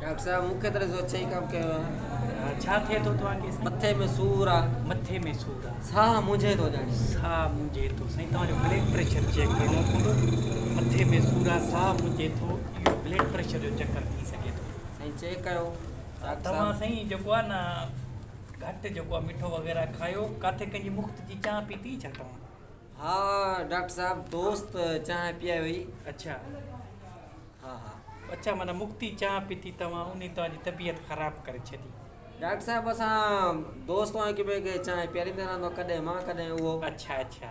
Doctor صاحب مونکي طرح سو اچھا ئي ڪم ڪيو آ ڇا ٿئي ٿو توهان کي مٿي ۾ سور آ مٿي ۾ سور آ ساهه منجهي ٿو ڄاڻي ساهه منجهي ٿو سائين توهان جو بلڊ پريشر چيڪ ڪرڻو پوندو مٿي ۾ سور آ ساهه منجهي ٿو اهو بلڊ پريشر جو چڪر ٿي سگهي ٿو سائين چيڪ ڪيو توهان سائين جيڪو آ نه گهٽ جيڪو آ مٺو وغيره کايو ڪاٿي ڪنهن جي مفت جي چانهه پيتي ڇا توهان؟ ها ڊاڪٽر صاحب دوست چانهه پيئي هئي. اڇا ها ها. اڇا معنيٰ مفتي چانهه پيتي توهان انهي توهان جي طبيعت خراب ڪري ڇڏي. ڊاڪٽر صاحب اسان دوست هڪ ٻئي کي چانهه پياريندا رهندا ڪڏهن مان ڪڏهن اهو. اڇا اڇا.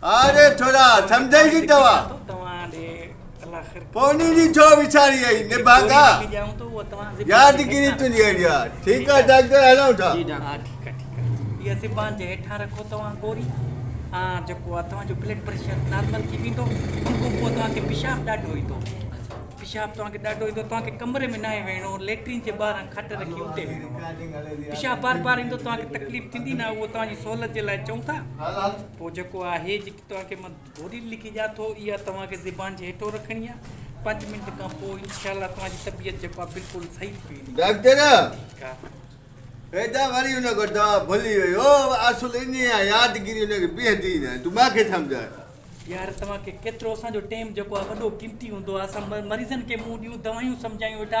آري ٿورا سمجهي جي توا پوني جي ڇو وچاري اي نباگا ياد گيري تنجي اڙيا ٺيڪ آ ڊاڪٽر هلون ٿا جي ڊاڪٽر ٺيڪ آ ٺيڪ آ يا سبان جي هيٺا رکو توا گوري آ جيڪو آ توا جو بلڊ پريشر نارمل ٿي ويندو ان کو پو توا کي پشاب ڏاڍو ايندو پشاب توا کي ڏاڍو ايندو توا کي ڪمري ۾ ناهي ويڻو ليٽرين جي ٻاهر کٽ رکي اتي ويڻو پشاب بار بار ايندو توا کي تڪليف ٿيندي نه هو توا جي سهولت جي لاء چون ٿا پوء جيڪو آهي جيڪي توهان کي مان گوري لکي ڏيان ٿو اها توهان کي زبان جي هيٺون رکڻي آهي پنج منٽ کان پوء انشاء الله توهان جي طبيعت جيڪو آهي بلڪل صحيح ٿي ويندي. ڊاڪٽر فيدا وري ان کان دوا ڀلي وئي هو اصل انهي آهي يادگيري ان کي بيهندي ئي نه آهي تون مان کي سمجهاء. يار توهان کي ڪيترو اسان جو ٽيم جيڪو آهي وڏو قيمتي هوندو آهي اسان مريضن کي منهن ڏيون دوائيون سمجهايون ويٺا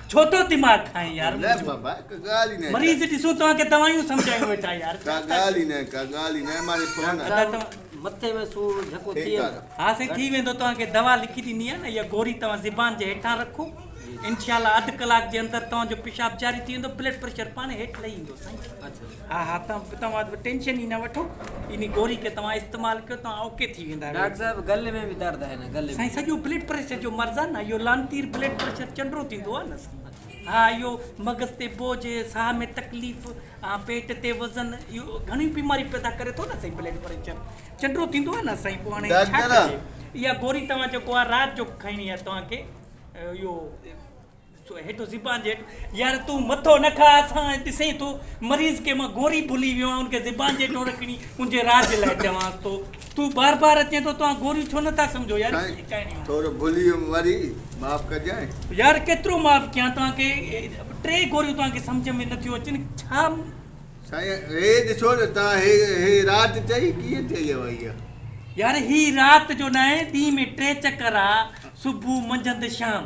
ڇوٿو دماغ کائين يار منهنجو مريض ڏسو توهان کي دوايون سمجهايون ويٺا يار ڪا ڳالهه ئي نه ڪا ڳالهه ئي نه ماري فون ادا توهان مٿي ۾ سور جهڪو ٿئي ها سائين ٿي ويندو توهان کي دوا لکي ڏني آهي نه اها گوري توهان زبان جي هيٺان رکو انشاء الله اڌ ڪلاڪ جي اندر توهان جو پيشاب جاري ٿي ويندو بلڊ پريشر پاڻ هيٺ لهي ايندو سائين ها ها توهان توهان به ٽينشن ئي نه وٺو انهي گوري کي توهان استعمال ڪيو توهان اوڪي ٿي ويندا. ڊاڪٽر صاحب گل ۾ به درد آهي نه گل ۾. سائين سڄو بلڊ پريشر جو مرض آهي نه اهو لانتير بلڊ پريشر چنڊرو ٿيندو آهي نه سائين ها اهو مغز تي بوجھ ساهه ۾ تڪليف ها پيٽ تي وزن اهو گهڻيون بيماريون پيدا ڪري ٿو نه سائين بلڊ پريشر چنڊرو ٿيندو آهي نه سائين پوء هاڻي ڇا ڪجي اها گوري توهان جيڪو آهي رات جو کائڻي آهي توهان کي اهو سو هيٺ زبان جي هيٺ يار تون مٿو نه کاء اسان ڏسين ٿو مريض کي مان گوري ڀلي ويو آهيان ان کي زبان جي هيٺ رکڻي ان جي راج لاء چوانس ٿو تون بار بار اچين ٿو توهان گوريون ڇو نه ٿا سمجهو يار سائين ٿورو ڀلي ويم وري معاف ڪجانء. يار ڪيترو معاف ڪيان توهان کي ٽي گوريون توهان کي سمجهه ۾ نه ٿيون اچن ڇا. سائين هي ڏسو نه توهان هي هي رات چئي ڪيئن چئي اهو اها. يار هي رات جو ناهي ڏينهن ۾ ٽي چڪر آ صبح منجهند شام.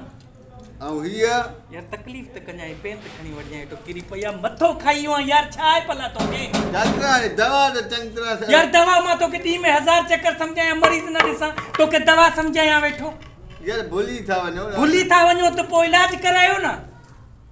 آئون هيء. يار تڪليف ته ڪنجانء پين ته کڻي وٺجانء اٽو ڪري پئي آ مٿو کائي ويو آهين يار ڇا آهي ڀلا توکي. ڊاڪٽر هاڻي دوا ته چڱي طرح سان. يار دوا مان توکي ڏينهن ۾ هزار چڪر سمجهايان مريض نه ڏسان توکي دوا سمجهايان ويٺو. يار ڀلي ٿا وڃو. ڀلي ٿا وڃو ته پوء علاج ڪرايو نه.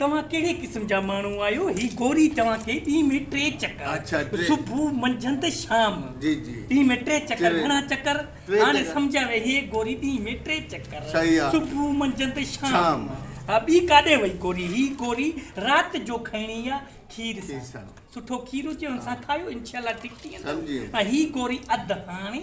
توهان ڪهڙي قسم جا ماڻهو آهيو هي گوري توهان کي ڏينهن ۾ ٽي چڪر صبح منجهند شام ڏينهن ۾ ٽي چڪر گهڻا چڪر هاڻي سمجهه ويهي هي گوري ڏينهن ۾ ٽي چڪر صبح منجهند شام ها ٻي ڪاڏي وئي گوري هي گوري رات جو کائڻي آ کير سان سٺو کير هجي ان سان کايو انشاء الله ٺيڪ ٿي ويندو ۽ هي گوري اڌ هاڻي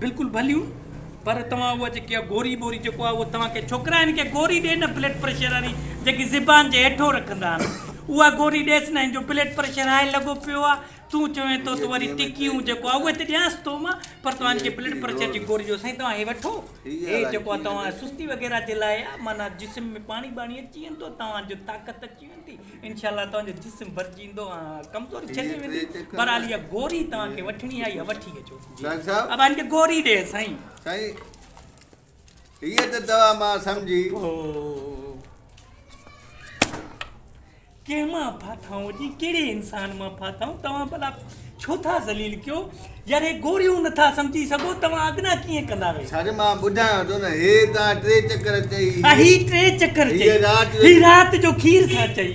بلڪل ڀليون پر توهان اها جيڪي اها گوري بوري جيڪو آهي اهو توهان کي ڇوڪرا هن کي گوري ڏي نه بلڊ پريشر واري جيڪي زبان جي هيٺو رکندا آهن اها گوري ڏيس نه هن جو بلڊ پريشر هاء لڳو پيو آهي تون چوين ٿو ته وري ٽڪيون جيڪو آهي اهي ته ڏيانس ٿو مان پر توهان هن کي بلڊ پريشر جي گوري ڏيو سائين توهان هي وٺو هي جيڪو آهي توهان سستي وغيره جي لاء آهي معنيٰ جسم ۾ پاڻي ٻاڻي اچي ويندو توهان جو طاقت اچي ويندي انشاء الله توهان جو جسم ڀرجي ويندو ۽ ڪمزوري ڇڏي ويندي بھرحال اها گوري توهان کي وٺڻي آهي اها وٺي اچو نائب صاحب. ابا انڪي گوري ڏي سائين. سائين هيء ته دوا مان سمجهي. اوهو ڪنهن مان ڦاٿائون جي ڪهڙي انسان مان ڦاٿائون توهان ڀلا ڇو ٿا ذليل ڪيو يار هي گوريون نٿا سمجهي سگهو توهان اڳنا ڪيئن ڪندا ويهي سر مان ٻڌايان ٿو نه هي توهان ٽي چڪر چئي هي ٽي چڪر چئي هي رات جو کير سان چئي.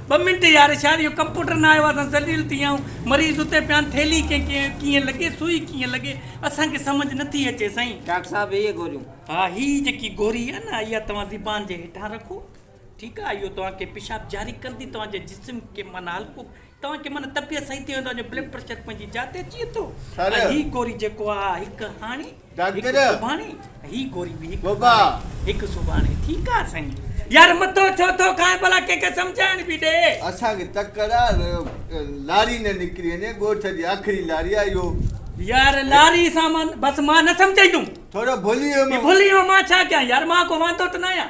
ٻه منٽ يار اشار اهو ڪمپوٽر ناهي اهو اسان ذليل ٿي ويا آهيون مريض اتي پيا آهن ٿيلهي ڪنهن کي ڪيئن لڳي سوئي ڪيئن لڳي اسان کي سمجهه نٿي اچي سائين. ڊاڪٽر صاحب هيء گوريون. ها هي جيڪي گوري آهي نه اها توهان زبان جي هيٺان رکو ٺيڪ آهي اهو توهان کي پيشاب جاري ڪندي توهان جي جسم کي معنيٰ هلڪو توهان کي معنيٰ طبيعت صحيح ٿي ويندو توهان جو بلڊ پريشر پنهنجي جاء تي اچي ويندو ۽ هي گوري جيڪو آهي اها هڪ هاڻي ڊاڪٽر هڪ سوڀاڻي هي گوري به هڪ بابا هڪ سوڀاڻي ٺيڪ آ سائين يار مٿو ڇو ٿو کائين ڀلا ڪنهن کي سمجهائڻ به ڏي. اسان کي تڪڙ آ لاري نه نڪري وڃي ڳوٺ جي آخري لاري آ اهو. يار لاري سامان بس مان نه سمجهائيندوم. ٿورو ڀلي ويو مان. ڀلي ويو مان ڇا ڪيان يار مان ڪو واندو ته ناهيان.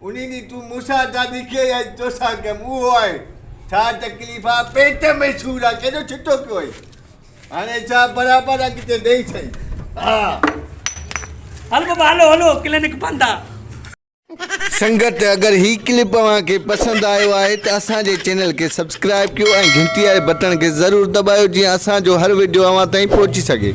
انهي ڏينهن تون مون سان ڇا لکيئي يا تو سان ڪيم اهو آهي ڇا تڪليف آ پيٽ ۾ سور آ ڪيڏو ڇٽو ڪيو اهي هاڻي ڇا برابر اڳتي ڏئي سهي ها. هل بابا هلو هلو ڪلينڪ بند آ. سنگت اگر هي ڪلپ اوهان کي پسند آيو آهي ته اسان جي چينل کي سبسڪرائيب ڪيو ۽ گهنٽي واري بٽڻ کي ضرور دٻايو جيئن اسان جو هر وڊيو اوهان تائين پهچي سگهي.